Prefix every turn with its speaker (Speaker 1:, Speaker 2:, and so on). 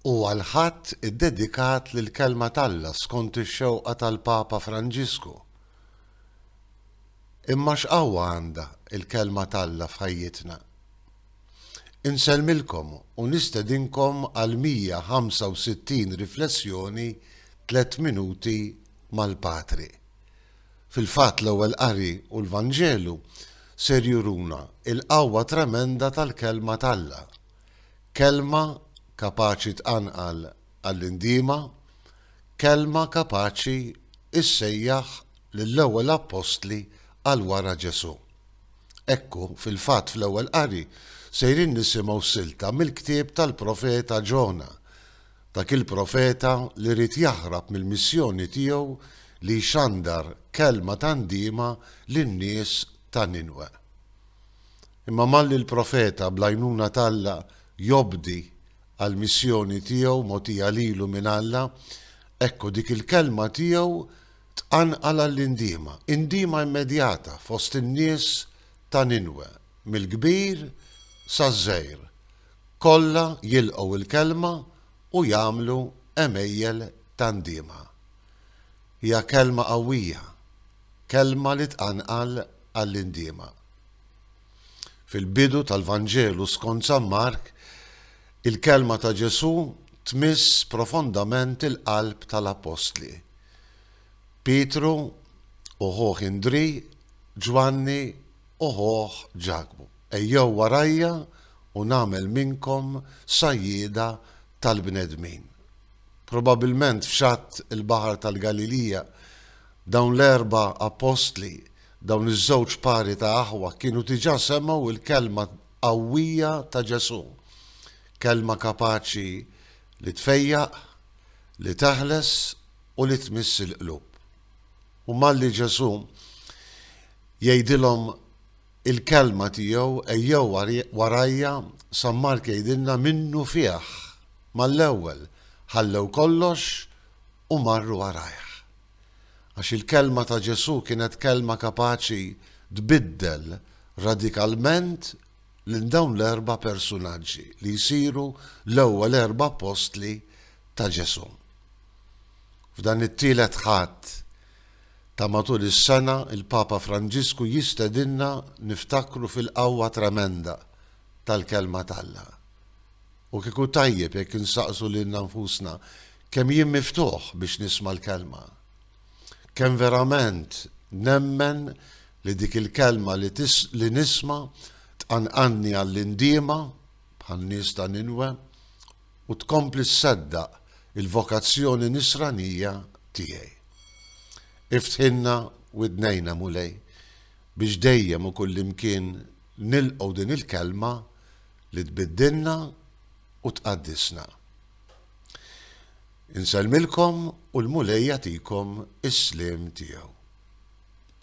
Speaker 1: Huwa l-Ħadd iddedikat lill-Kelma t'Alla skont ix-xewqa tal-Papa Franġisku. Imma x'qawwa għandha l-Kelma t'Alla f'ħajjitna? Insellmilkom u nistedinkom għal 165 riflessjoni Tliet Minuti mal-Patri. Fil-fatt l-Ewwel Qari u l-Vanġelu ser juruna l-qawwa tremenda tal-Kelma t'Alla, Kelma kapaċi tqanqal għall-indiema, Kelma kapaċi ssejjaħ lill-ewwel Appostli għal wara Ġesù. Ekku, fil-fatt fl-Ewwel Qari sejrin nisimgħu silta mill-ktieb tal-Profeta Ġona, Dak il-profeta li ried jaħrab mill-missjoni tiegħu li jxandar kelma ta' ndiema lin-nies ta' Ninwe. Imma malli l-profeta, bl-għajnuna t'Alla, jobdi għall-missjoni tiegħu mogħtija lilu minn Alla, ekku dik il-kelma tiegħu tqanqal għall-indiema, indiema immedjata fost in-nies ta' Ninwe, mill-kbir saż-żgħir. Kollha jilqgħu l-kelma u jagħmlu għemejjel ta' ndiema. Hija kelma qawwija, kelma li tqanqal għall-indiema. Fil-bidu tal-Vanġelu skont San Mark, il-kelma ta' Ġesù tmiss profondament il-qalb tal-appostli. Pietru u ħuh Indrì, Ġwanni u ħuh Ġakbu. Ejjew warajja u nagħmel minnkom sajjieda tal-bnedmin. Probabbilment f'xatt il-Baħar tal-Galilija, dawn l-erba' appostli, dawn iż-żewġ pari ta' aħwa, kienu diġà semgħu l-kelma qawwija ta' Ġesù, kelma kapaċi li tfejjaq, li teħles u li tmiss il-qlub. U malli Ġesù jgħidilhom Il-kelma tiegħu ejjew warajja San Mark jgħidilna minnu fih mal-ewwel ħallew kollox u marru warajh. Għax il-kelma ta' Ġesù kienet kelma kapaċi tbiddel radikalment lil dawn l-erba' persunaġġi li jsiru l-ewwel erba' appostli ta' Ġesù. F'dan it-tielet Ħadd, Ta' matul is-sena, il-Papa Franġisku jistedinna niftakru fil-qawwa tremenda tal-Kelma t'Alla. U kieku tajjeb jekk insaqsu lilna nfusna, Kemm jien miftuħ biex nisma' l-Kelma? Kemm verament nemmen li dik il-Kelma li nisma' tqanqalni għall-indiema, bħan-nies ta' Ninwe, u tkompli ssaddaq il-vokazzjoni nisranija tiegħi. Iftħilna widnejna, Mulej, biex dejjem u kullimkien nilqgħu din il-Kelma li tbiddilna u tqaddisna. Insellmilkom u l-Mulej jagħtikom is-sliem tiegħu.